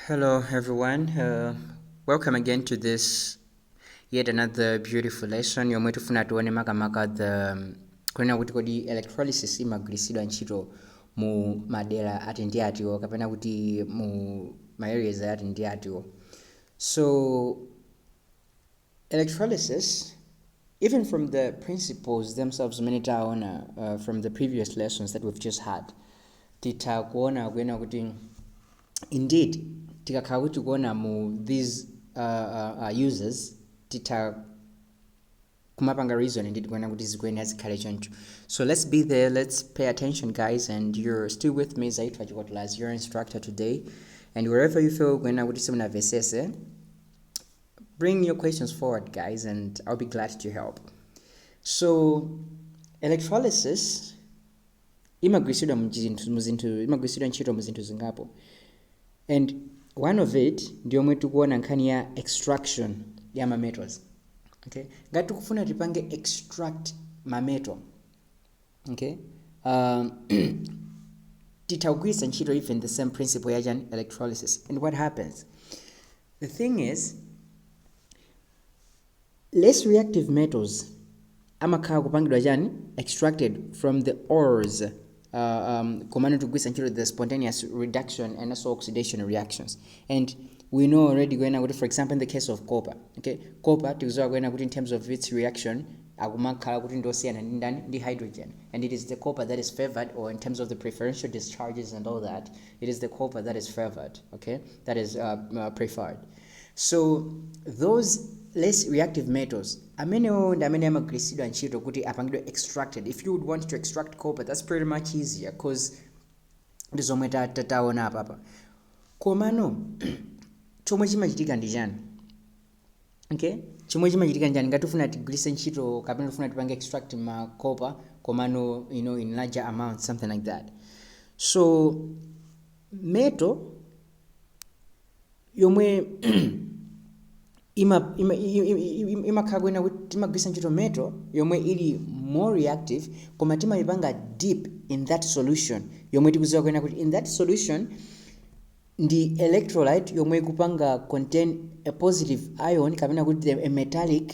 Hello, everyone. Uh, welcome again to this yet another beautiful lesson yomwe tifuna tione makamaka the um, kunena kuti kodi electrolysis imagwiritsidwa ntchito mu madera ati ndi atiwo kapena kuti mu ma areas ati ndi atiwo so electrolysis even from the principles themselves zimene taona uh, from the previous lessons that we've just had titha kuona kuena kuti indeed tikakhala kuti kuona mu these uh, uh, uh, uses titha kumapanga reason indeed kuena kuti zikuyenera zikhale choncho so let's be there let's pay attention guys and you're still with me Zaitwa Chikotola as your instructor today and wherever you feel kuena kuti simunavesese Bring your questions forward, guys, and I'll be glad to help. So, electrolysis imagwiritsidwa mu chinthu- mu zinthu imagwiritsidwa ntchito mu zinthu zingapo and one of it ndi yomwe tikuona nkhani ya extraction ya mametals okay ngati tikufuna tipange extract mametal okay um, titha kugwiritsa ntchito even the same principle ya chani electrolysis and what happens the thing is less reactive metals amakhala kupangidwa chani extracted from the ores uh, um, komano tigwiritsa ntchito the spontaneous reduction and also oxidation reactions And we know already kuena kuti for example in the case of copper okay copper tikuziwa kuena kuti in terms of its reaction akumakhala kuti ndosiyana ndi ndani ndi hydrogen and it is the copper that is favored or in terms of the preferential discharges and all that it is the copper that is favored okay that is uh, uh, preferred so those less reactive metals amenewo ndi amene amagwiritsidwa ntchito kuti apangidwe extracted if you would want to extract copper that's pretty much easier because ndi zomwe taona apapa. Komano chomwe chimachitika ndi chani? Okay? Chomwe chimachitika ndi chani? Ngati tufuna tigwiritse ntchito kapena tufuna tipange extract ma copper komano you know in larger amount something like that. So metal yomwe ima- ima- i- i- i- imakhala kuena kuti timagwiritsa ntchito metal yomwe ili more reactive koma timayipanga dip in that solution yomwe tikuziwa kuena kuti in that solution ndi electrolyte yomwe ikupanga contain a positive ion kapena kuti a metallic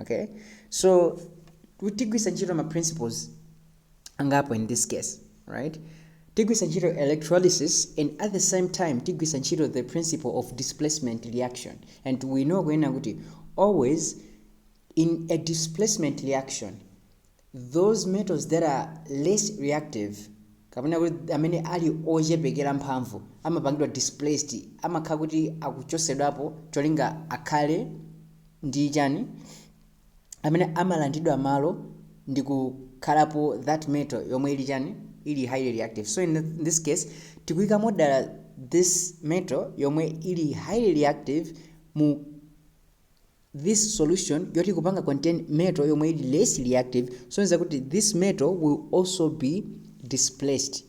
Okay? So, tigwisa ntchito ma principles angapo in this case, right? Tigwisa ntchito electrolysis and at the same time tigwisa ntchito the principle of displacement reaction. And we know kuena kuti always in a displacement reaction those metals that are less reactive kapena kuti amene ali ochepekera mphamvu amapangidwa displaced amakhala kuti akuchotsedwapo cholinga akhale ndi chani amene amalandidwa malo ndi kukhalapo that metal yomwe ili chani ili highly reactive so in this case tikuika modala this metal yomwe ili highly reactive mu This solution yoti kupanga contain metal yomwe ili less reactive soneza kuti this metal will also be displaced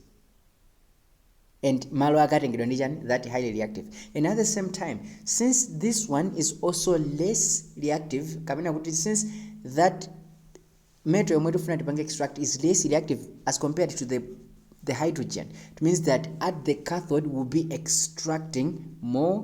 and malo akatengedwa ndi chani that highly reactive and at the same time since this one is also less reactive kapena kuti since that metal yomwe tifuna tipange extract is less reactive as compared to the the hydrogen it means that at the cathode will be extracting more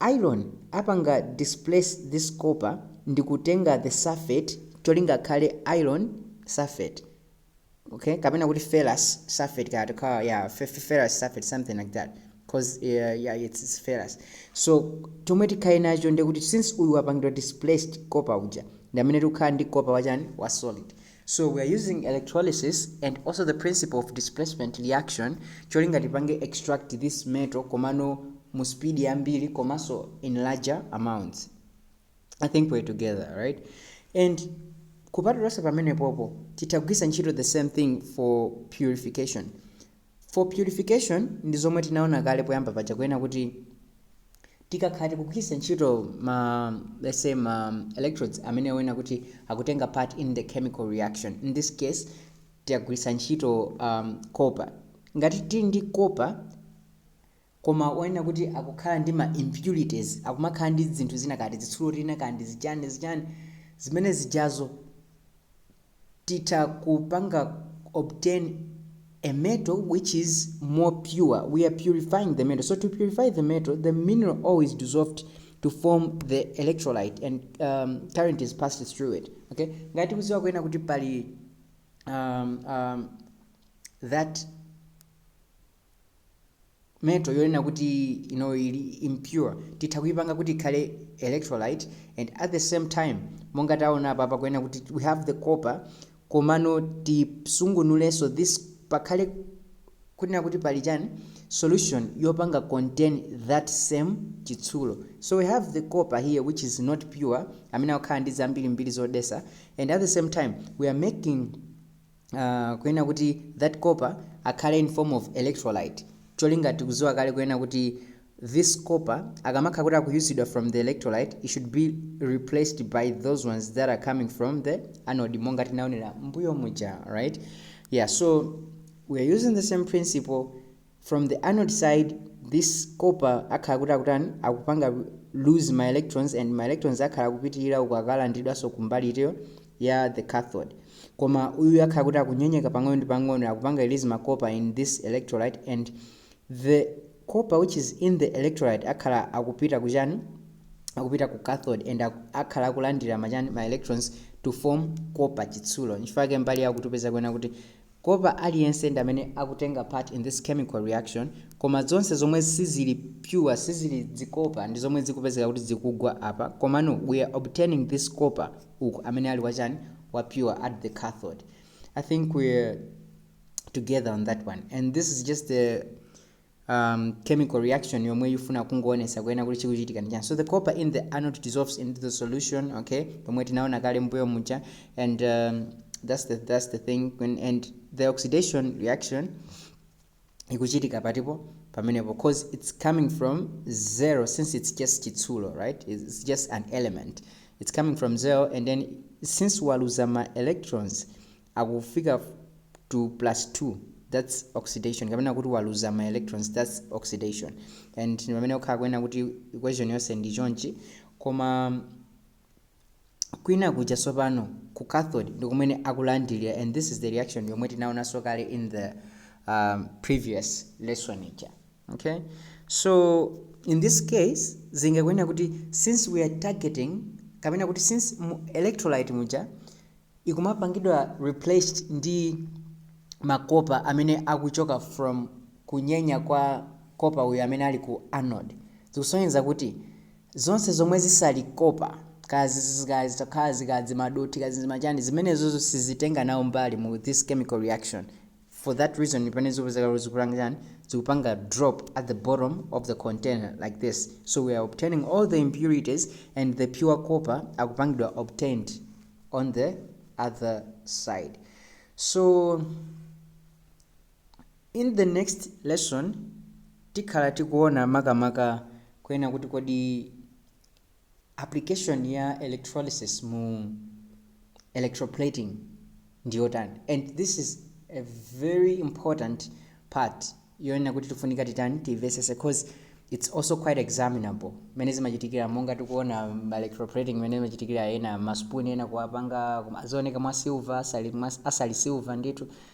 Iron apanga displace this copper ndikutenga the sulphate cholinga akhale iron sulphate ok kapena kuti ferrous sulphate kaya tikhala ndi ferrous sulphate something like that coz ya ya it's, it's ferrous so chomwe tikhale nacho ndiye kuti since uyu wapangidwa displaced copper uja ndi amene tikukhala ndi copper wachani wa solid So we are using electrolysis and also the principle of displacement reaction cholinga tipange extract this metal komano mu speed yambiri komanso in larger amounts. I think we're together, right? And kupatulonse pamenepopo titagwisa ntchito the same thing for purification. for purification ndi zomwe tinaona kale poyamba paja kunena kuti tikakhala tikugwiritsa ntchito ma let's say ma electrodes amene onena kuti akutenga part in the chemical reaction in this case tiyagwiritsa ntchito um, copper ngati tili ndi copper Koma onena kuti akukhala ndi ma impurities, akumakhala ndi zinthu zina kaya tizitsulo tina kaya ndi zichani zichani, zimene zijazo titha kupanga obtain a metal which is more pure, we are purifying the metal, so to purify the metal the mineral ore is dissolved to form the electrolyte and current is passed through it, ok. Ngati tikudziwa kunena kuti pali that metal yonena kuti iyo ili impure titha kuipanga kuti ikhale electrolyte and at the same time monga taona apa pakunena kuti we have the copper komano tisungunulenso this pakhale kunena kuti pali chani solution yopanga contain that same chitsulo so we have the copper here which is not pure amene akukhala ndi zambirimbiri zodetsa and at the same time we are making uh, kunena kuti that copper akhale in form of electrolyte cholinga tikudziwa kale kunena kuti this copper akamakhala kuti akuyusidwa from the electrolyte it should be replaced by those ones that are coming from the anode monga tinaonera mbuyo muja right yeah so we are using the same principle from the anode side this copper akhala kuti akutani akupanga lose ma electrons and ma electrons akhala akupitira uku akalandidwanso kumbali itiyo ya the cathode koma uyu akhala kuti akunyenyeka pang'ono ndi pang'ono akupanga release ma copper in this electrolyte and the copper which is in the electrolyte akhala akupita kuchani akupita ku cathode and aku- akhala akulandira machani ma electrons to form copper chitsulo nchifukwa chake mbali yakuti tipeza kunena kuti Copper aliyense ndi amene akutenga part in this chemical reaction koma zonse zomwe sizili pure sizili zikopa ndi zomwe zikupezeka kuti zikugwa apa komano we are obtaining this copper uku amene ali wa chani wa pure at the cathode I think we are together on that one and this is just the um, chemical reaction yomwe yifuna kungoonesa kuyena kuti chikuchitika ndi chani so the copper in the anode dissolves into the solution okay pomwe tinaona kale mbuyo muja and um, that's the that's the thing when, and the oxidation reaction ikuchitika patipo pamenepo cause it's coming from zero since it's just chitsulo right it's it's just an element it's coming from zero and then since waluza ma electrons akufika to plus 2 that's oxidation kapena kuti waluza ma electrons that's oxidation and ndi pamene ukhala kunena kuti equation yonse ndi chonchi koma kwina kuja sopano ku cathode ndi kumene akulandilira and this is the reaction yomwe tinaonanso kale in the um, previous lesson ija okay so in this case zingakunena kuti since we are targeting kapena kuti since mu electrolyte muja ikumapangidwa replaced ndi ma copper amene akuchoka from kunyenya kwa copper uyu amene ali ku anode zikusonyeza kuti zonse zomwe zisali copper kaya zitakhala zikazimadothi kazimachani zimenezozo sizitenga nawo mbali mu this chemical reaction for that reason ndi pamene zopezeka izo zikupanga chani zikupanga drop at the bottom of the container like this so we are obtaining all the impurities and the pure copper akupangidwa obtained on the other side so in the next lesson tikhala tikuona makamaka kunena kuti kodi application ya electrolysis mu electroplating ndi yotani and this is a very important part yonena kuti tifunika titani tiimvetsetse cause it's also quite examinable mmene zimachitikira monga tikuona electroplating mmene zimachitikira ena maspoon ena kuwapanga azioneka mwa silver asali, mwa- asali silver ndithu